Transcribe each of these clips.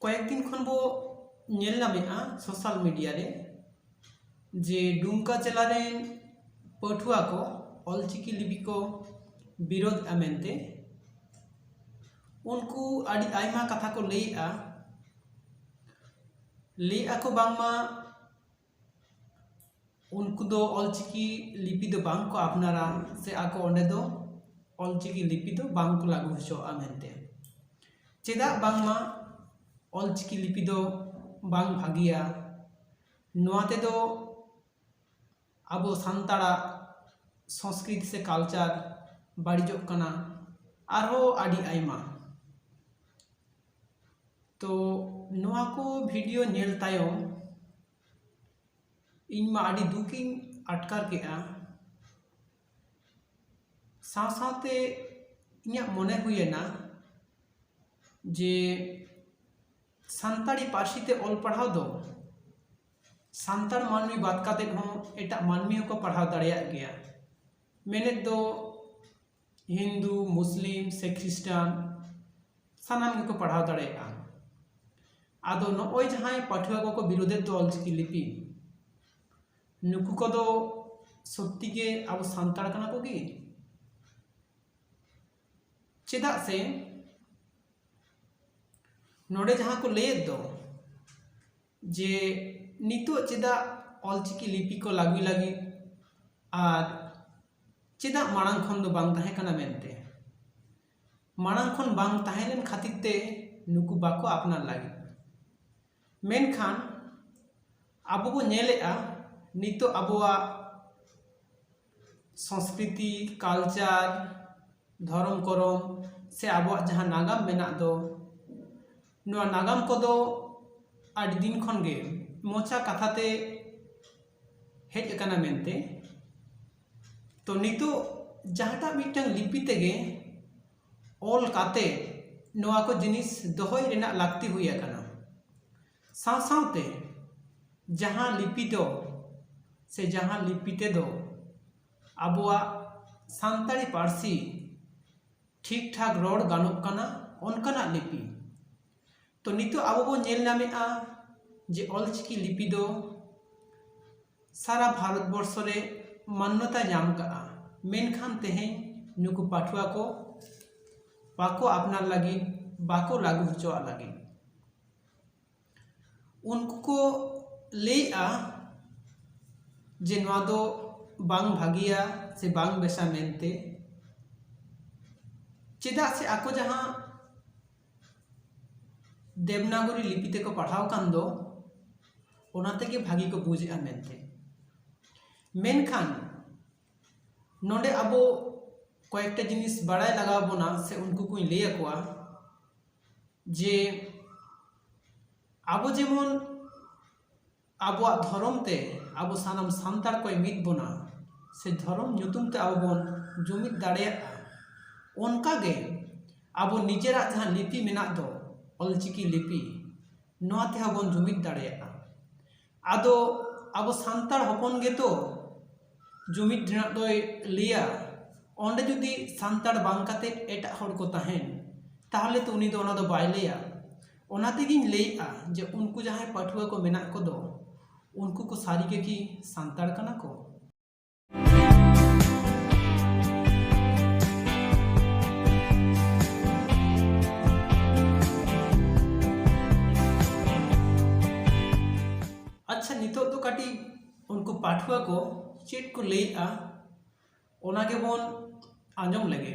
ᱠᱚᱭᱮᱠ ᱫᱤᱱ ᱠᱷᱚᱱ ᱵᱚ ᱧᱮᱞ ᱧᱟᱢᱮᱫᱼᱟ ᱥᱳᱥᱟᱞ ᱢᱤᱰᱤᱭᱟ ᱨᱮ ᱡᱮ ᱰᱩᱢᱠᱟ ᱡᱮᱞᱟ ᱨᱮᱱ ᱯᱟᱹᱴᱷᱩᱣᱟᱹ ᱠᱚ ᱚᱞ ᱪᱤᱠᱤ ᱞᱤᱯᱤ ᱠᱚ ᱵᱤᱨᱳᱫᱷᱼᱟ ᱢᱮᱱᱛᱮ ᱩᱱᱠᱩ ᱟᱹᱰᱤ ᱟᱭᱢᱟ ᱠᱟᱛᱷᱟ ᱠᱚ ᱞᱟᱹᱭᱮᱫᱼᱟ ᱞᱟᱹᱭᱮᱫᱼᱟ ᱠᱚ ᱵᱟᱝᱢᱟ ᱩᱱᱠᱩ ᱫᱚ ᱚᱞ ᱪᱤᱠᱤ ᱞᱤᱯᱤ ᱫᱚ ᱵᱟᱝ ᱠᱚ ᱟᱯᱱᱟᱨᱟ ᱥᱮ ᱟᱠᱚ ᱚᱸᱰᱮ ᱫᱚ ᱚᱞ ᱪᱤᱠᱤ ᱞᱤᱯᱤ ᱫᱚ ᱵᱟᱝ ᱠᱚ ᱞᱟᱜᱩ ᱦᱚᱪᱚᱣᱟᱜᱼᱟ ᱢᱮᱱᱛᱮ ᱪᱮᱫᱟᱜ ᱵᱟᱝᱢᱟ ᱚᱞ ᱪᱤᱠᱤ ᱞᱤᱯᱤ ᱫᱚ ᱵᱟᱝ ᱵᱷᱟᱜᱮᱭᱟ ᱱᱚᱣᱟ ᱛᱮᱫᱚ ᱟᱵᱚ ᱥᱟᱱᱛᱟᱲᱟᱜ ᱥᱚᱥᱠᱨᱤᱛᱤ ᱥᱮ ᱠᱟᱞᱪᱟᱨ ᱵᱟᱲᱤᱡᱚᱜ ᱠᱟᱱᱟ ᱟᱨᱦᱚᱸ ᱟᱹᱰᱤ ᱟᱭᱢᱟ ᱛᱚ ᱱᱚᱣᱟ ᱠᱚ ᱵᱷᱤᱰᱤᱭᱳ ᱧᱮᱞ ᱛᱟᱭᱚᱢ ᱤᱧ ᱢᱟ ᱟᱹᱰᱤ ᱫᱩᱠ ᱤᱧ ᱟᱴᱠᱟᱨ ᱠᱮᱫᱼᱟ ᱥᱟᱶ ᱥᱟᱶᱛᱮ ᱤᱧᱟᱹᱜ ᱢᱚᱱᱮ ᱦᱩᱭᱮᱱᱟ ᱡᱮ ᱥᱟᱱᱛᱟᱲᱤ ᱯᱟᱹᱨᱥᱤ ᱛᱮ ᱚᱞ ᱯᱟᱲᱦᱟᱣ ᱫᱚ ᱥᱟᱱᱛᱟᱲ ᱢᱟᱹᱱᱢᱤ ᱵᱟᱫ ᱠᱟᱛᱮ ᱦᱚᱸ ᱮᱴᱟᱜ ᱢᱟᱹᱱᱢᱤ ᱦᱚᱸᱠᱚ ᱯᱟᱲᱦᱟᱣ ᱫᱟᱲᱮᱭᱟᱜ ᱜᱮᱭᱟ ᱢᱮᱱᱮᱛ ᱫᱚ ᱦᱤᱱᱫᱩ ᱢᱩᱥᱞᱤᱢ ᱥᱮ ᱠᱷᱨᱤᱥᱴᱟᱱ ᱥᱟᱱᱟᱢ ᱜᱮᱠᱚ ᱯᱟᱲᱦᱟᱣ ᱫᱟᱲᱮᱭᱟᱜᱼᱟ ᱟᱫᱚ ᱱᱚᱜᱼᱚᱭ ᱡᱟᱦᱟᱸᱭ ᱯᱟᱹᱴᱷᱩᱣᱟᱹ ᱠᱚᱠᱚ ᱵᱤᱨᱳᱫᱮᱫ ᱫᱚ ᱚᱞᱪᱤᱠᱤ ᱞᱤᱯᱤ ᱱᱩᱠᱩ ᱠᱚᱫᱚ ᱥᱚᱛᱛᱤ ᱜᱮ ᱟᱵᱚ ᱥᱟᱱᱛᱟᱲ ᱠᱟᱱᱟ ᱠᱚ ᱠᱤ ᱪᱮᱫᱟᱜ ᱥᱮ ᱱᱚᱰᱮ ᱡᱟᱦᱟᱸ ᱠᱚ ᱞᱟᱹᱭᱮᱫ ᱫᱚ ᱡᱮ ᱱᱤᱛᱚᱜ ᱪᱮᱫᱟᱜ ᱚᱞ ᱪᱤᱠᱤ ᱞᱤᱯᱤ ᱠᱚ ᱞᱟᱹᱜᱩᱭ ᱞᱟᱹᱜᱤᱫ ᱟᱨ ᱪᱮᱫᱟᱜ ᱢᱟᱲᱟᱝ ᱠᱷᱚᱱ ᱫᱚ ᱵᱟᱝ ᱛᱟᱦᱮᱸ ᱠᱟᱱᱟ ᱢᱮᱱᱛᱮ ᱢᱟᱲᱟᱝ ᱠᱷᱚᱱ ᱵᱟᱝ ᱛᱟᱦᱮᱸ ᱞᱮᱱ ᱠᱷᱟᱹᱛᱤᱨ ᱛᱮ ᱱᱩᱠᱩ ᱵᱟᱠᱚ ᱟᱯᱱᱟᱨ ᱞᱟᱹᱜᱤᱫ ᱢᱮᱱᱠᱷᱟᱱ ᱟᱵᱚ ᱵᱚᱱ ᱧᱮᱞᱮᱜᱼᱟ ᱱᱤᱛᱚᱜ ᱟᱵᱚᱣᱟᱜ ᱥᱚᱥᱠᱨᱤᱛᱤ ᱠᱟᱞᱪᱟᱨ ᱫᱷᱚᱨᱚᱢ ᱠᱚᱨᱚᱢ ᱥᱮ ᱟᱵᱚᱣᱟᱜ ᱡᱟᱦᱟᱸ ᱱᱟᱜᱟᱢ ᱢᱮᱱᱟᱜ ᱫᱚ ᱱᱚᱣᱟ ᱱᱟᱜᱟᱢ ᱠᱚᱫᱚ ᱟᱹᱰᱤ ᱫᱤᱱ ᱠᱷᱚᱱ ᱜᱮ ᱢᱚᱪᱟ ᱠᱟᱛᱷᱟ ᱛᱮ ᱦᱮᱡ ᱟᱠᱟᱱᱟ ᱢᱮᱱᱛᱮ ᱛᱚ ᱱᱤᱛᱚᱜ ᱡᱟᱦᱟᱸᱴᱟᱜ ᱢᱤᱫᱴᱟᱝ ᱞᱤᱯᱤ ᱛᱮᱜᱮ ᱚᱞ ᱠᱟᱛᱮ ᱱᱚᱣᱟ ᱠᱚ ᱡᱤᱱᱤᱥ ᱫᱚᱦᱚᱭ ᱨᱮᱱᱟᱜ ᱞᱟᱹᱠᱛᱤ ᱦᱩᱭ ᱟᱠᱟᱱᱟ ᱥᱟᱶ ᱥᱟᱶᱛᱮ ᱡᱟᱦᱟᱸ ᱞᱤᱯᱤ ᱫᱚ ᱥᱮ ᱡᱟᱦᱟᱸ ᱞᱤᱯᱤ ᱛᱮᱫᱚ ᱟᱵᱚᱣᱟᱜ ᱥᱟᱱᱛᱟᱲᱤ ᱯᱟᱹᱨᱥᱤ ᱴᱷᱤᱠ ᱴᱷᱟᱠ ᱨᱚᱲ ᱜᱟᱱᱚᱜ ᱠᱟᱱᱟ ᱚᱱᱠᱟᱱᱟᱜ ᱞᱤᱯᱤ ᱛᱚ ᱱᱤᱛᱚᱜ ᱟᱵᱚ ᱵᱚᱱ ᱧᱮᱞ ᱧᱟᱢᱮᱜᱼᱟ ᱡᱮ ᱚᱞ ᱪᱤᱠᱤ ᱞᱤᱯᱤ ᱫᱚ ᱥᱟᱨᱟ ᱵᱷᱟᱨᱚᱛ ᱵᱚᱨᱥᱚ ᱨᱮ ᱢᱟᱱᱱᱚᱛᱟᱭ ᱧᱟᱢ ᱠᱟᱜᱼᱟ ᱢᱮᱱᱠᱷᱟᱱ ᱛᱮᱦᱮᱧ ᱱᱩᱠᱩ ᱯᱟᱹᱴᱷᱩᱣᱟᱹ ᱠᱚ ᱵᱟᱠᱚ ᱟᱯᱱᱟᱨ ᱞᱟᱹᱜᱤᱫ ᱵᱟᱠᱚ ᱞᱟᱹᱜᱩ ᱦᱚᱪᱚᱣᱟᱜ ᱞᱟᱹᱜᱤᱫ ᱩᱱᱠᱩ ᱠᱚ ᱞᱟᱹᱭᱮᱫᱼᱟ ᱡᱮ ᱱᱚᱣᱟ ᱫᱚ ᱵᱟᱝ ᱵᱷᱟᱹᱜᱤᱭᱟ ᱥᱮ ᱵᱟᱝ ᱵᱮᱥᱟ ᱢᱮᱱᱛᱮ ᱪᱮᱫᱟᱜ ᱥᱮ ᱟᱠᱚ ᱡᱟᱦᱟᱸ ᱫᱮᱵᱽᱱᱟᱜᱚᱨᱤ ᱞᱤᱯᱤ ᱛᱮᱠᱚ ᱯᱟᱲᱦᱟᱣ ᱠᱟᱱ ᱫᱚ ᱚᱱᱟ ᱛᱮᱜᱮ ᱵᱷᱟᱹᱜᱤ ᱠᱚ ᱵᱩᱡᱮᱫᱼᱟ ᱢᱮᱱᱛᱮ ᱢᱮᱱᱠᱷᱟᱱ ᱱᱚᱰᱮ ᱟᱵᱚ ᱠᱚᱭᱮᱠᱴᱟ ᱡᱤᱱᱤᱥ ᱵᱟᱲᱟᱭ ᱞᱟᱜᱟᱣ ᱵᱚᱱᱟ ᱥᱮ ᱩᱱᱠᱩ ᱠᱚᱧ ᱞᱟᱹᱭ ᱟᱠᱚᱣᱟ ᱡᱮ ᱟᱵᱚ ᱡᱮᱢᱚᱱ ᱟᱵᱚᱣᱟᱜ ᱫᱷᱚᱨᱚᱢ ᱛᱮ ᱟᱵᱚ ᱥᱟᱱᱟᱢ ᱥᱟᱱᱛᱟᱲ ᱠᱚᱭ ᱢᱤᱫ ᱵᱚᱱᱟ ᱥᱮ ᱫᱷᱚᱨᱚᱢ ᱧᱩᱛᱩᱢ ᱛᱮ ᱟᱵᱚ ᱵᱚᱱ ᱡᱩᱢᱤᱫ ᱫᱟᱲᱮᱭᱟᱜᱼᱟ ᱚᱱᱠᱟᱜᱮ ᱟᱵᱚ ᱱᱤᱡᱮᱨᱟᱜ ᱡᱟᱦᱟᱸ ᱞᱤᱯᱤ ᱢᱮᱱᱟᱜ ᱫᱚ ᱚᱞᱪᱤᱠᱤ ᱞᱤᱯᱤ ᱱᱚᱣᱟ ᱛᱮᱦᱚᱸ ᱵᱚᱱ ᱡᱩᱢᱤᱫ ᱫᱟᱲᱮᱭᱟᱜᱼᱟ ᱟᱫᱚ ᱟᱵᱚ ᱥᱟᱱᱛᱟᱲ ᱦᱚᱯᱚᱱ ᱜᱮᱛᱚ ᱡᱩᱢᱤᱫ ᱨᱮᱱᱟᱜ ᱫᱚᱭ ᱞᱟᱹᱭᱟ ᱚᱸᱰᱮ ᱡᱩᱫᱤ ᱥᱟᱱᱛᱟᱲ ᱵᱟᱝ ᱠᱟᱛᱮ ᱮᱴᱟᱜ ᱦᱚᱲ ᱠᱚ ᱛᱟᱦᱮᱱ ᱛᱟᱦᱚᱞᱮ ᱛᱚ ᱩᱱᱤ ᱫᱚ ᱚᱱᱟ ᱫᱚ ᱵᱟᱭ ᱞᱟᱹᱭᱟ ᱚᱱᱟ ᱛᱮᱜᱮᱧ ᱞᱟᱹᱭᱮᱜᱼᱟ ᱡᱮ ᱩᱱᱠᱩ ᱡᱟᱦᱟᱸᱭ ᱯᱟᱹᱴᱷᱩᱣᱟᱹ ᱠᱚ ᱢᱮᱱᱟᱜ ᱠᱚᱫᱚ ᱩᱱᱠᱩ ᱠᱚ ᱥᱟᱹᱨᱤᱜᱮ ᱠᱤ ᱥᱟᱱᱛᱟᱲ ᱠᱟᱱᱟ ᱠᱚ ᱟᱪᱪᱷᱟ ᱱᱤᱛᱚᱜ ᱫᱚ ᱠᱟᱹᱴᱤᱡ ᱩᱱᱠᱩ ᱯᱟᱹᱴᱷᱩᱣᱟᱹ ᱠᱚ ᱪᱮᱫ ᱠᱚ ᱞᱟᱹᱭᱮᱫᱼᱟ ᱚᱱᱟ ᱜᱮᱵᱚᱱ ᱟᱸᱡᱚᱢ ᱞᱮᱜᱮ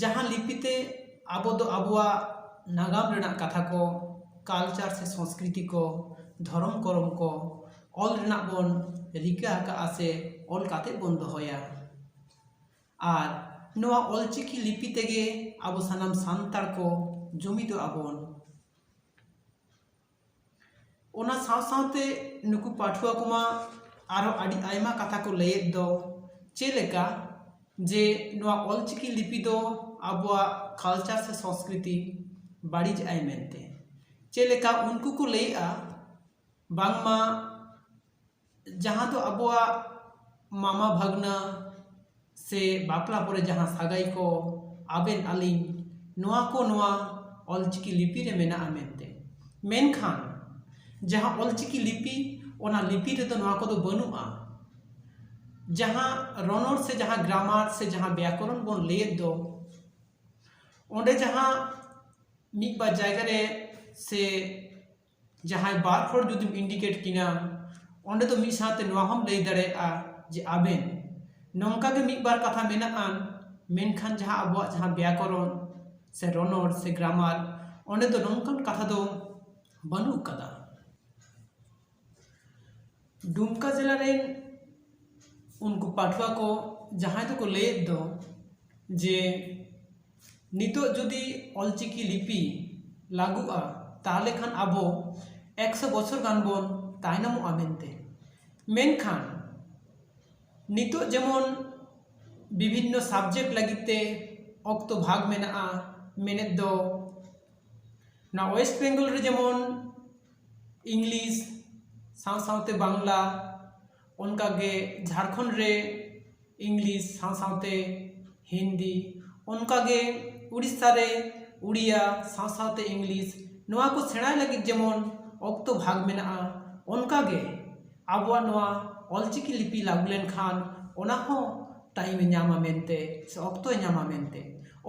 ᱡᱟᱦᱟᱸ ᱞᱤᱯᱤ ᱛᱮ ᱟᱵᱚ ᱫᱚ ᱟᱵᱚᱣᱟᱜ ᱱᱟᱜᱟᱢ ᱨᱮᱱᱟᱜ ᱠᱟᱛᱷᱟ ᱠᱚ ᱠᱟᱞᱪᱟᱨ ᱥᱮ ᱥᱚᱥᱠᱨᱤᱛᱤ ᱠᱚ ᱫᱷᱚᱨᱚᱢ ᱠᱚᱨᱚᱢ ᱠᱚ ᱚᱞ ᱨᱮᱱᱟᱜ ᱵᱚᱱ ᱨᱤᱠᱟᱹ ᱟᱠᱟᱫᱼᱟ ᱥᱮ ᱚᱞ ᱠᱟᱛᱮ ᱵᱚᱱ ᱫᱚᱦᱚᱭᱟ ᱟᱨ ᱱᱚᱣᱟ ᱚᱞ ᱪᱤᱠᱤ ᱞᱤᱯᱤ ᱛᱮᱜᱮ ᱟᱵᱚ ᱥᱟᱱᱟᱢ ᱥᱟᱱᱛᱟᱲ ᱠᱚ ᱡᱩᱢᱤᱫᱚᱜᱼᱟ ᱵᱚᱱ ᱚᱱᱟ ᱥᱟᱶ ᱥᱟᱶᱛᱮ ᱱᱩᱠᱩ ᱯᱟᱹᱴᱷᱩᱣᱟᱹ ᱠᱚᱢᱟ ᱟᱨᱚ ᱟᱹᱰᱤ ᱟᱭᱢᱟ ᱠᱟᱛᱷᱟ ᱠᱚ ᱞᱟᱹᱭᱮᱫ ᱫᱚ ᱪᱮᱫ ᱞᱮᱠᱟ ᱡᱮ ᱱᱚᱣᱟ ᱚᱞ ᱪᱤᱠᱤ ᱞᱤᱯᱤ ᱫᱚ ᱟᱵᱚᱣᱟᱜ ᱠᱟᱞᱪᱟᱨ ᱥᱮ ᱥᱚᱥᱠᱨᱤᱛᱤ ᱵᱟᱹᱲᱤᱡ ᱟᱭ ᱢᱮᱱᱛᱮ ᱪᱮᱫ ᱞᱮᱠᱟ ᱩᱱᱠᱩ ᱠᱚ ᱞᱟᱹᱭᱮᱜᱼᱟ ᱵᱟᱝᱢᱟ ᱡᱟᱦᱟᱸ ᱫᱚ ᱟᱵᱚᱣᱟᱜ ᱢᱟᱢᱟ ᱵᱷᱟᱹᱜᱽᱱᱟᱹ ᱥᱮ ᱵᱟᱯᱞᱟ ᱠᱚᱨᱮ ᱡᱟᱦᱟᱸ ᱥᱟᱹᱜᱟᱹᱭ ᱠᱚ ᱟᱵᱮᱱ ᱟᱹᱞᱤᱧ ᱱᱚᱣᱟ ᱠᱚ ᱱᱚᱣᱟ ᱚᱞ ᱪᱤᱠᱤ ᱞᱤᱯᱤ ᱨᱮ ᱢᱮᱱᱟᱜᱼᱟ ᱢᱮᱱᱛᱮ ᱢᱮᱱᱠᱷᱟᱱ ᱡᱟᱦᱟᱸ ᱚᱞ ᱪᱤᱠᱤ ᱞᱤᱯᱤ ᱚᱱᱟ ᱞᱤᱯᱤ ᱨᱮᱫᱚ ᱱᱚᱣᱟ ᱠᱚᱫᱚ ᱵᱟᱹᱱᱩᱜᱼᱟ ᱡᱟᱦᱟᱸ ᱨᱚᱱᱚᱲ ᱥᱮ ᱡᱟᱦᱟᱸ ᱜᱨᱟᱢᱟᱨ ᱥᱮ ᱡᱟᱦᱟᱸ ᱵᱮᱭᱟᱠᱚᱨᱚᱱ ᱵᱚᱱ ᱞᱟᱹᱭᱮᱫ ᱫᱚ ᱚᱸᱰᱮ ᱡᱟᱦᱟᱸ ᱢᱤᱫ ᱵᱟᱨ ᱡᱟᱭᱜᱟ ᱨᱮ ᱥᱮ ᱡᱟᱦᱟᱸᱭ ᱵᱟᱨ ᱦᱚᱲ ᱡᱩᱫᱤᱢ ᱤᱱᱰᱤᱠᱮᱴ ᱠᱤᱱᱟ ᱚᱸᱰᱮ ᱫᱚ ᱢᱤᱫ ᱥᱟᱶᱛᱮ ᱱᱚᱣᱟ ᱦᱚᱸᱢ ᱞᱟᱹᱭ ᱫᱟᱲᱮᱭᱟᱜᱼᱟ ᱡᱮ ᱟᱵᱮᱱ ᱱᱚᱝᱠᱟ ᱜᱮ ᱢᱤᱫ ᱵᱟᱨ ᱠᱟᱛᱷᱟ ᱢᱮᱱᱟᱜᱼᱟ ᱢᱮᱱᱠᱷᱟᱱ ᱡᱟᱦᱟᱸ ᱟᱵᱚᱣᱟᱜ ᱡᱟᱦᱟᱸ ᱵᱮᱭᱟᱠᱚᱨᱚᱱ ᱥᱮ ᱨᱚᱱᱚᱲ ᱥᱮ ᱜᱨᱟᱢᱟᱨ ᱚᱸᱰᱮ ᱫᱚ ᱱᱚᱝᱠᱟᱱ ᱠᱟᱛᱷᱟ ᱫᱚ ᱵᱟᱹᱱᱩᱜ ᱠᱟᱫᱟ ᱫᱩᱢᱠᱟ ᱡᱮᱞᱟ ᱨᱮ ᱩᱱᱠᱩ ᱯᱟᱹᱴᱷᱩᱣᱟᱹ ᱠᱚ ᱡᱟᱦᱟᱸᱭ ᱫᱚᱠᱚ ᱞᱟᱹᱭᱮᱫ ᱫᱚ ᱡᱮ ᱱᱤᱛᱚᱜ ᱡᱩᱫᱤ ᱚᱞ ᱪᱤᱠᱤ ᱞᱤᱯᱤ ᱞᱟᱹᱜᱩᱜᱼᱟ ᱛᱟᱦᱚᱞᱮ ᱠᱷᱟᱱ ᱟᱵᱚ ᱮᱠᱥᱚ ᱵᱚᱪᱷᱚᱨ ᱜᱟᱱ ᱵᱚᱱ ᱛᱟᱭᱱᱚᱢᱚᱜᱼᱟ ᱢᱮᱱᱛᱮ ᱢᱮᱱᱠᱷᱟᱱ ᱱᱤᱛᱚᱜ ᱡᱮᱢᱚᱱ ᱵᱤᱵᱷᱤᱱᱱᱚ ᱥᱟᱵᱡᱮᱠᱴ ᱞᱟᱹᱜᱤᱫ ᱛᱮ ᱚᱠᱛᱚ ᱵᱷᱟᱜᱽ ᱢᱮᱱᱟᱜᱼᱟ ᱢᱮᱱᱮᱛ ᱫᱚ ᱱᱚᱣᱟ ᱳᱭᱮᱥᱴ ᱵᱮᱝᱜᱚᱞ ᱨᱮ ᱡᱮᱢᱚᱱ ᱤᱝᱞᱤᱥ ᱥᱟᱶ ᱥᱟᱶᱛᱮ ᱵᱟᱝᱞᱟ ᱚᱱᱠᱟᱜᱮ ᱡᱷᱟᱲᱠᱷᱚᱸᱰ ᱨᱮ ᱤᱝᱞᱤᱥ ᱥᱟᱶ ᱥᱟᱶᱛᱮ ᱦᱤᱱᱫᱤ ᱚᱱᱠᱟᱜᱮ ᱳᱰᱤᱥᱟ ᱨᱮ ᱳᱰᱤᱭᱟ ᱥᱟᱶ ᱥᱟᱶᱛᱮ ᱤᱝᱞᱤᱥ ᱱᱚᱣᱟ ᱠᱚ ᱥᱮᱬᱟᱭ ᱞᱟᱹᱜᱤᱫ ᱡᱮᱢᱚᱱ ᱚᱠᱛᱚ ᱵᱷᱟᱜᱽ ᱢᱮᱱᱟᱜᱼᱟ ᱚᱱᱠᱟᱜᱮ ᱟᱵᱚᱣᱟᱜ ᱱᱚᱣᱟ ᱚᱞ ᱪᱤᱠᱤ ᱞᱤᱯᱤ ᱞᱟᱹᱜᱩ ᱞᱮᱱᱠᱷᱟᱱ ᱚᱱᱟᱦᱚᱸ ᱴᱟᱭᱤᱢᱮ ᱧᱟᱢᱟ ᱢᱮᱱᱛᱮ ᱥᱮ ᱚᱠᱛᱚᱭ ᱧᱟᱢᱟ ᱢᱮᱱᱛᱮ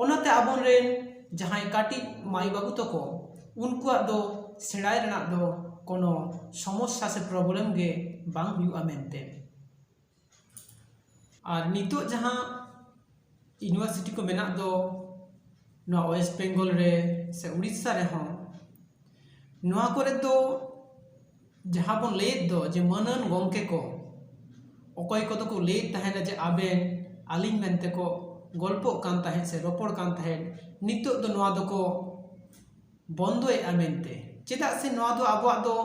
ᱚᱱᱟᱛᱮ ᱟᱵᱚ ᱨᱮᱱ ᱡᱟᱦᱟᱸᱭ ᱠᱟᱹᱴᱤᱡ ᱢᱟᱹᱭ ᱵᱟᱹᱵᱩ ᱛᱟᱠᱚ ᱩᱱᱠᱩᱣᱟᱜ ᱫᱚ ᱥᱮᱬᱟᱭ ᱨᱮᱱᱟᱜ ᱫᱚ ᱠᱳᱱᱳ ᱥᱚᱢᱚᱥᱥᱟ ᱥᱮ ᱯᱨᱚᱵᱞᱮᱢ ᱜᱮ ᱵᱟᱝ ᱦᱩᱭᱩᱜᱼᱟ ᱢᱮᱱᱛᱮ ᱟᱨ ᱱᱤᱛᱚᱜ ᱡᱟᱦᱟᱸ ᱤᱭᱩᱱᱤᱵᱷᱟᱨᱥᱤᱴᱤ ᱠᱚ ᱢᱮᱱᱟᱜ ᱫᱚ ᱱᱚᱣᱟ ᱳᱭᱮᱥᱴ ᱵᱮᱝᱜᱚᱞ ᱨᱮ ᱥᱮ ᱳᱰᱤᱥᱟ ᱨᱮᱦᱚᱸ ᱱᱚᱣᱟ ᱠᱚᱨᱮ ᱫᱚ ᱡᱟᱦᱟᱸ ᱵᱚᱱ ᱞᱟᱹᱭᱮᱫ ᱫᱚ ᱡᱮ ᱢᱟᱹᱱᱟᱱ ᱜᱚᱢᱠᱮ ᱠᱚ ᱚᱠᱚᱭ ᱠᱚᱫᱚ ᱠᱚ ᱞᱟᱹᱭᱮᱫ ᱛᱟᱦᱮᱱᱟ ᱡᱮ ᱟᱵᱮᱱ ᱟᱹᱞᱤᱧ ᱢᱮᱱᱛᱮ ᱠᱚ ᱜᱚᱞᱯᱚᱜ ᱠᱟᱱ ᱛᱟᱦᱮᱸᱜ ᱥᱮ ᱨᱚᱯᱚᱲ ᱠᱟᱱ ᱛᱟᱦᱮᱸᱜ ᱱᱤᱛᱚᱜ ᱫᱚ ᱱᱚᱣᱟ ᱫᱚᱠᱚ ᱵᱚᱱᱫᱚᱭᱮᱜᱼᱟ ᱢᱮᱱᱛᱮ ᱪᱮᱫᱟᱜ ᱥᱮ ᱱᱚᱣᱟ ᱫᱚ ᱟᱵᱚᱣᱟᱜ ᱫᱚ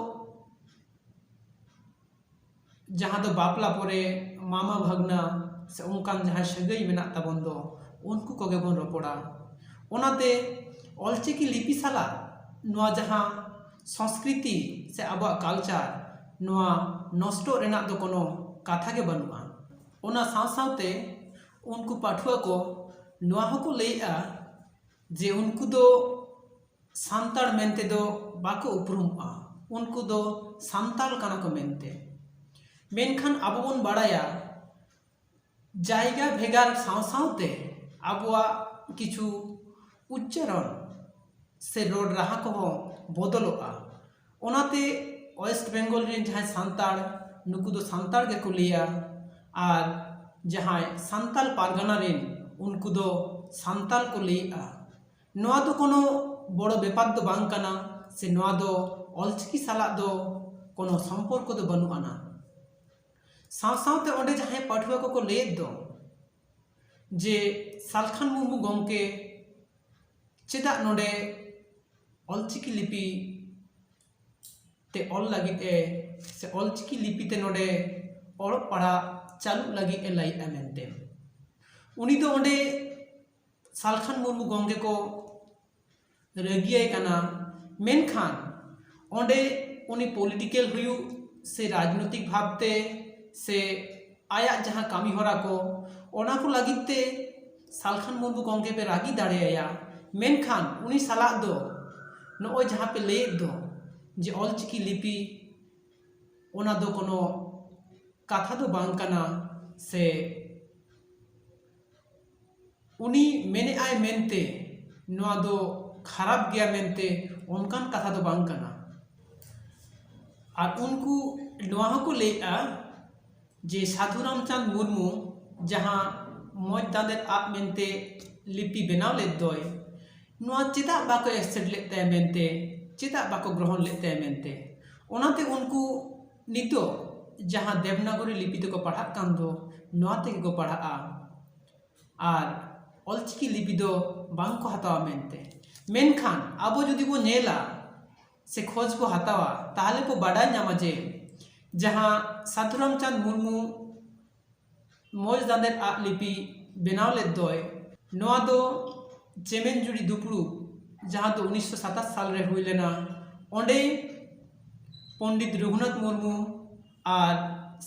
ᱡᱟᱦᱟᱸ ᱫᱚ ᱵᱟᱯᱞᱟ ᱯᱚᱨᱮ ᱢᱟᱢᱟ ᱵᱷᱟᱹᱜᱽᱱᱟᱹ ᱥᱮ ᱚᱱᱠᱟᱱ ᱡᱟᱦᱟᱸᱭ ᱥᱟᱹᱜᱟᱹᱭ ᱢᱮᱱᱟᱜ ᱛᱟᱵᱚᱱ ᱫᱚ ᱩᱱᱠᱩ ᱠᱚᱜᱮ ᱵᱚᱱ ᱨᱚᱯᱚᱲᱟ ᱚᱱᱟᱛᱮ ᱚᱞ ᱪᱤᱠᱤ ᱞᱤᱯᱤ ᱥᱟᱞᱟᱜ ᱱᱚᱣᱟ ᱡᱟᱦᱟᱸ ᱥᱚᱥᱠᱨᱤᱛᱤ ᱥᱮ ᱟᱵᱚᱣᱟᱜ ᱠᱟᱞᱪᱟᱨ ᱱᱚᱣᱟ ᱱᱚᱥᱴᱚᱜ ᱨᱮᱱᱟᱜ ᱫᱚ ᱠᱳᱱᱳ ᱠᱟᱛᱷᱟ ᱜᱮ ᱵᱟᱹᱱᱩᱜᱼᱟ ᱚᱱᱟ ᱥᱟᱶ ᱥᱟᱶᱛᱮ ᱩᱱᱠᱩ ᱯᱟᱹᱴᱷᱩᱣᱟᱹ ᱠᱚ ᱱᱚᱣᱟ ᱦᱚᱸᱠᱚ ᱞᱟᱹᱭᱮᱜᱼᱟ ᱡᱮ ᱩᱱᱠᱩ ᱫᱚ ᱥᱟᱱᱛᱟᱲ ᱢᱮᱱ ᱛᱮᱫᱚ ᱵᱟᱠᱚ ᱩᱯᱨᱩᱢᱚᱜᱼᱟ ᱩᱱᱠᱩ ᱫᱚ ᱥᱟᱱᱛᱟᱲ ᱠᱟᱱᱟ ᱠᱚ ᱢᱮᱱᱛᱮ ᱢᱮᱱᱠᱷᱟᱱ ᱟᱵᱚ ᱵᱚᱱ ᱵᱟᱲᱟᱭᱟ ᱡᱟᱭᱜᱟ ᱵᱷᱮᱜᱟᱨ ᱥᱟᱶ ᱥᱟᱶᱛᱮ ᱟᱵᱚᱣᱟᱜ ᱠᱤᱪᱷᱩ ᱩᱪᱪᱟᱨᱚᱱ ᱥᱮ ᱨᱚᱲ ᱨᱟᱦᱟ ᱠᱚᱦᱚᱸ ᱵᱚᱫᱚᱞᱚᱜᱼᱟ ᱚᱱᱟᱛᱮ ᱳᱭᱮᱥᱴ ᱵᱮᱝᱜᱚᱞ ᱨᱮᱱ ᱡᱟᱦᱟᱸᱭ ᱥᱟᱱᱛᱟᱲ ᱱᱩᱠᱩ ᱫᱚ ᱥᱟᱱᱛᱟᱲ ᱜᱮᱠᱚ ᱞᱟᱹᱭᱟ ᱟᱨ ᱡᱟᱦᱟᱸᱭ ᱥᱟᱱᱛᱟᱲ ᱯᱟᱨᱜᱟᱱᱟ ᱨᱮᱱ ᱩᱱᱠᱩ ᱫᱚ ᱥᱟᱱᱛᱟᱲ ᱠᱚ ᱞᱟᱹᱭᱮᱜᱼᱟ ᱱᱚᱣᱟ ᱫᱚ ᱠᱳᱱᱳ ᱵᱚᱲᱚ ᱵᱮᱯᱟᱨ ᱫᱚ ᱵᱟᱝ ᱠᱟᱱᱟ ᱥᱮ ᱱᱚᱣᱟ ᱫᱚ ᱚᱞ ᱪᱤᱠᱤ ᱥᱟᱞᱟᱜ ᱫᱚ ᱠᱳᱱᱳ ᱥᱚᱢᱯᱚᱨᱠᱚ ᱫᱚ ᱵᱟᱹᱱᱩᱜ ᱟᱱᱟ ᱥᱟᱶ ᱥᱟᱶᱛᱮ ᱚᱸᱰᱮ ᱡᱟᱦᱟᱸᱭ ᱯᱟᱹᱴᱷᱩᱣᱟᱹ ᱠᱚᱠᱚ ᱞᱟᱹᱭᱮᱫ ᱫᱚ ᱡᱮ ᱥᱟᱞᱠᱷᱟᱱ ᱢᱩᱨᱢᱩ ᱜᱚᱢᱠᱮ ᱪᱮᱫᱟᱜ ᱱᱚᱰᱮ ᱚᱞᱪᱤᱠᱤ ᱞᱤᱯᱤ ᱛᱮ ᱚᱞ ᱞᱟᱹᱜᱤᱫ ᱮ ᱥᱮ ᱚᱞᱪᱤᱠᱤ ᱞᱤᱯᱤ ᱛᱮ ᱱᱚᱰᱮ ᱚᱞᱚᱜ ᱯᱟᱲᱦᱟᱜ ᱪᱟᱹᱞᱩᱜ ᱞᱟᱹᱜᱤᱫ ᱮ ᱞᱟᱹᱭᱮᱜᱼᱟ ᱢᱮᱱᱛᱮ ᱩᱱᱤ ᱫᱚ ᱚᱸᱰᱮ ᱥᱟᱞᱠᱷᱟᱱ ᱢᱩᱨᱢᱩ ᱜᱚᱢᱠᱮ ᱠᱚ ᱨᱟᱹᱜᱤᱭᱟᱭ ᱠᱟᱱᱟ ᱢᱮᱱᱠᱷᱟᱱ ᱚᱸᱰᱮ ᱩᱱᱤ ᱯᱚᱞᱤᱴᱤᱠᱮᱞ ᱦᱩᱭᱩᱜ ᱥᱮ ᱨᱟᱡᱽᱱᱳᱭᱛᱤᱠ ᱵᱷᱟᱵᱽ ᱛᱮ ᱥᱮ ᱟᱭᱟᱜ ᱡᱟᱦᱟᱸ ᱠᱟᱹᱢᱤ ᱦᱚᱨᱟ ᱠᱚ ᱚᱱᱟ ᱠᱚ ᱞᱟᱹᱜᱤᱫ ᱛᱮ ᱥᱟᱞᱠᱷᱟᱱ ᱢᱩᱨᱢᱩ ᱜᱚᱢᱠᱮ ᱯᱮ ᱨᱟᱹᱜᱤ ᱫᱟᱲᱮ ᱟᱭᱟ ᱢᱮᱱᱠᱷᱟᱱ ᱩᱱᱤ ᱥᱟᱞᱟᱜ ᱫᱚ ᱱᱚᱜᱼᱚᱭ ᱡᱟᱦᱟᱸ ᱯᱮ ᱞᱟᱹᱭᱮᱜ ᱫᱚ ᱡᱮ ᱚᱞ ᱪᱤᱠᱤ ᱞᱤᱯᱤ ᱚᱱᱟ ᱫᱚ ᱠᱳᱱᱳ ᱠᱟᱛᱷᱟ ᱫᱚ ᱵᱟᱝ ᱠᱟᱱᱟ ᱥᱮ ᱩᱱᱤ ᱢᱮᱱᱮᱫ ᱟᱭ ᱢᱮᱱᱛᱮ ᱱᱚᱣᱟ ᱫᱚ ᱠᱷᱟᱨᱟᱯ ᱜᱮᱭᱟ ᱢᱮᱱᱛᱮ ᱚᱱᱠᱟᱱ ᱠᱟᱛᱷᱟ ᱫᱚ ᱵᱟᱝ ᱠᱟᱱᱟ ᱟᱨ ᱩᱱᱠᱩ ᱱᱚᱣᱟ ᱦᱚᱸᱠᱚ ᱞᱟᱹᱭᱮᱜᱼᱟ ᱡᱮ ᱥᱟᱹᱫᱷᱩ ᱨᱟᱢᱪᱟᱸᱫᱽ ᱢᱩᱨᱢᱩ ᱡᱟᱦᱟᱸ ᱢᱚᱡᱽ ᱫᱟᱸᱫᱮᱨ ᱟᱜ ᱢᱮᱱᱛᱮ ᱞᱤᱯᱤ ᱵᱮᱱᱟᱣ ᱞᱮᱜ ᱫᱚᱭ ᱱᱚᱣᱟ ᱪᱮᱫᱟᱜ ᱵᱟᱠᱚ ᱮᱠᱥᱮᱯᱴ ᱞᱮᱜ ᱛᱟᱭᱟ ᱢᱮᱱᱛᱮ ᱪᱮᱫᱟᱜ ᱵᱟᱠᱚ ᱜᱨᱚᱦᱚᱱ ᱞᱮᱜ ᱛᱟᱭᱟ ᱢᱮᱱᱛᱮ ᱚᱱᱟᱛᱮ ᱩᱱᱠᱩ ᱱᱤᱛᱚᱜ ᱡᱟᱦᱟᱸ ᱫᱮᱵᱽᱱᱟᱜᱚᱨᱤ ᱞᱤᱯᱤ ᱛᱮᱠᱚ ᱯᱟᱲᱦᱟᱜ ᱠᱟᱱ ᱫᱚ ᱱᱚᱣᱟ ᱛᱮᱜᱮ ᱠᱚ ᱯᱟᱲᱦᱟᱜᱼᱟ ᱟᱨ ᱚᱞ ᱪᱤᱠᱤ ᱞᱤᱯᱤ ᱫᱚ ᱵᱟᱝ ᱠᱚ ᱦᱟᱛᱟᱣᱟ ᱢᱮᱱᱛᱮ ᱢᱮᱱᱠᱷᱟᱱ ᱟᱵᱚ ᱡᱩᱫᱤ ᱵᱚᱱ ᱧᱮᱞᱟ ᱥᱮ ᱠᱷᱚᱡᱽ ᱵᱚᱱ ᱦᱟᱛᱟᱣᱟ ᱛᱟᱦᱚᱞᱮ ᱠᱚ ᱵᱟᱰᱟᱭ ᱧᱟᱢᱟ ᱡᱮ ᱡᱟᱦᱟᱸ ᱥᱟᱹᱫᱷᱩ ᱨᱟᱢᱪᱟᱸᱫᱽ ᱢᱩᱨᱢᱩ ᱢᱚᱡᱽ ᱫᱟᱸᱫᱮᱫ ᱟᱜ ᱞᱤᱯᱤ ᱵᱮᱱᱟᱣ ᱞᱮᱫ ᱫᱚᱭ ᱱᱚᱣᱟ ᱫᱚ ᱪᱮᱢᱮᱧᱡᱩᱲᱤ ᱫᱩᱯᱲᱩᱵ ᱡᱟᱦᱟᱸ ᱫᱚ ᱩᱱᱤᱥᱥᱚ ᱥᱟᱛᱟᱥ ᱥᱟᱞ ᱨᱮ ᱦᱩᱭ ᱞᱮᱱᱟ ᱚᱸᱰᱮ ᱯᱚᱱᱰᱤᱛ ᱨᱟᱹᱜᱷᱩᱱᱟᱛᱷ ᱢᱩᱨᱢᱩ ᱟᱨ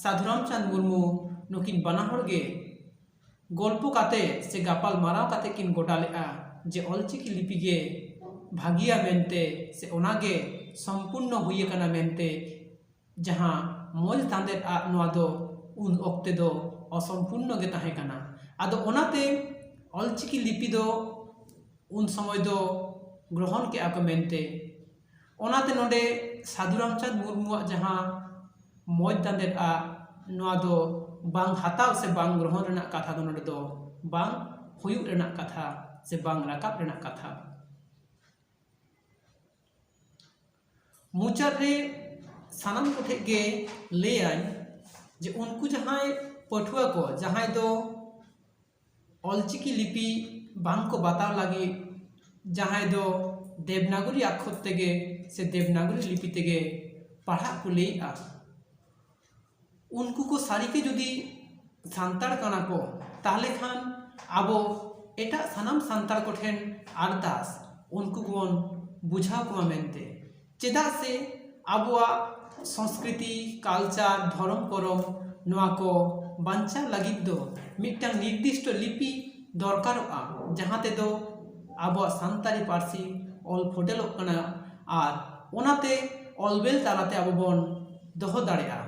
ᱥᱟᱹᱫᱷᱩ ᱨᱟᱢᱪᱟᱸᱫᱽ ᱢᱩᱨᱢᱩ ᱱᱩᱠᱤᱱ ᱵᱟᱱᱟ ᱦᱚᱲ ᱜᱮ ᱜᱚᱞᱯᱚ ᱠᱟᱛᱮ ᱥᱮ ᱜᱟᱯᱟᱞᱢᱟᱨᱟᱣ ᱠᱟᱛᱮ ᱠᱤᱱ ᱜᱚᱴᱟ ᱞᱮᱫᱼᱟ ᱡᱮ ᱚᱞ ᱪᱤᱠᱤ ᱞᱤᱯᱤ ᱜᱮ ᱵᱷᱟᱹᱜᱤᱭᱟ ᱢᱮᱱᱛᱮ ᱥᱮ ᱚᱱᱟ ᱜᱮ ᱥᱚᱢᱯᱩᱨᱱᱚ ᱦᱩᱭ ᱟᱠᱟᱱᱟ ᱢᱮᱱᱛᱮ ᱡᱟᱦᱟᱸ ᱢᱚᱡᱽ ᱛᱟᱸᱫᱮᱨ ᱟᱜ ᱱᱚᱣᱟ ᱫᱚ ᱩᱱ ᱚᱠᱛᱮ ᱫᱚ ᱚᱥᱚᱢᱯᱩᱨᱱᱚ ᱜᱮ ᱛᱟᱦᱮᱸ ᱠᱟᱱᱟ ᱟᱫᱚ ᱚᱱᱟᱛᱮ ᱚᱞ ᱪᱤᱠᱤ ᱞᱤᱯᱤ ᱫᱚ ᱩᱱ ᱥᱚᱢᱚᱭ ᱫᱚ ᱜᱨᱚᱦᱚᱱ ᱠᱮᱜᱼᱟ ᱠᱚ ᱢᱮᱱᱛᱮ ᱚᱱᱟᱛᱮ ᱱᱚᱰᱮ ᱥᱟᱹᱫᱷᱩ ᱨᱟᱢᱪᱟᱸᱫᱽ ᱢᱩᱨᱢᱩᱣᱟᱜ ᱡᱟᱦᱟᱸ ᱢᱚᱡᱽ ᱛᱟᱸᱫᱮᱨ ᱟᱜ ᱱᱚᱣᱟ ᱫᱚ ᱵᱟᱝ ᱦᱟᱛᱟᱣ ᱥᱮ ᱵᱟᱝ ᱜᱨᱚᱦᱚᱱ ᱨᱮᱱᱟᱜ ᱠᱟᱛᱷᱟ ᱫᱚ ᱱᱚᱰᱮ ᱫᱚ ᱵᱟᱝ ᱦᱩᱭᱩᱜ ᱨᱮᱱᱟᱜ ᱠᱟᱛᱷᱟ ᱥᱮ ᱵᱟᱝ ᱨᱟᱠᱟᱵ ᱨᱮᱱᱟᱜ ᱠᱟᱛᱷᱟ ᱢᱩᱪᱟᱹᱫ ᱨᱮ ᱥᱟᱱᱟᱢ ᱠᱚᱴᱷᱮᱡ ᱜᱮ ᱞᱟᱹᱭᱟᱹᱧ ᱡᱮ ᱩᱱᱠᱩ ᱡᱟᱦᱟᱸᱭ ᱯᱟᱹᱴᱷᱩᱣᱟᱹ ᱠᱚ ᱡᱟᱦᱟᱸᱭ ᱫᱚ ᱚᱞᱪᱤᱠᱤ ᱞᱤᱯᱤ ᱵᱟᱝ ᱠᱚ ᱵᱟᱛᱟᱣ ᱞᱟᱹᱜᱤᱫ ᱡᱟᱦᱟᱸᱭ ᱫᱚ ᱫᱮᱵᱽᱱᱟᱜᱚᱨᱤ ᱟᱠᱷᱚᱨ ᱛᱮᱜᱮ ᱥᱮ ᱫᱮᱵᱽᱱᱟᱜᱚᱨᱤ ᱞᱤᱯᱤ ᱛᱮᱜᱮ ᱯᱟᱲᱦᱟᱜ ᱠᱚ ᱞᱟᱹᱭᱮᱜᱼᱟ ᱩᱱᱠᱩ ᱠᱚ ᱥᱟᱹᱨᱤ ᱜᱮ ᱡᱩᱫᱤ ᱥᱟᱱᱛᱟᱲ ᱠᱟᱱᱟ ᱠᱚ ᱛᱟᱦᱚᱞᱮ ᱠᱷᱟᱱ ᱟᱵᱚ ᱮᱴᱟᱜ ᱥᱟᱱᱟᱢ ᱥᱟᱱᱛᱟᱲ ᱠᱚᱴᱷᱮᱱ ᱟᱨᱫᱟᱥ ᱩᱱᱠᱩ ᱵᱚᱱ ᱵᱩᱡᱷᱟᱹᱣ ᱠᱚᱢᱟ ᱢᱮᱱᱛᱮ ᱪᱮᱫᱟᱜ ᱥᱮ ᱟᱵᱚᱣᱟᱜ ᱥᱚᱥᱠᱨᱤᱛᱤ ᱠᱟᱞᱪᱟᱨ ᱫᱷᱚᱨᱚᱢ ᱠᱚᱨᱚᱢ ᱱᱚᱣᱟ ᱠᱚ ᱵᱟᱧᱪᱟᱣ ᱞᱟᱹᱜᱤᱫ ᱫᱚ ᱢᱤᱫᱴᱟᱝ ᱱᱤᱨᱫᱤᱥᱴᱚ ᱞᱤᱯᱤ ᱫᱚᱨᱠᱟᱨᱚᱜᱼᱟ ᱡᱟᱦᱟᱸ ᱛᱮᱫᱚ ᱟᱵᱚᱣᱟᱜ ᱥᱟᱱᱛᱟᱲᱤ ᱯᱟᱹᱨᱥᱤ ᱚᱞ ᱯᱷᱚᱴᱮᱞᱚᱜ ᱠᱟᱱᱟ ᱟᱨ ᱚᱱᱟᱛᱮ ᱚᱞᱵᱮᱞ ᱛᱟᱞᱟᱛᱮ ᱟᱵᱚ ᱵᱚᱱ ᱫᱚᱦᱚ ᱫᱟᱲᱮᱭᱟᱜᱼᱟ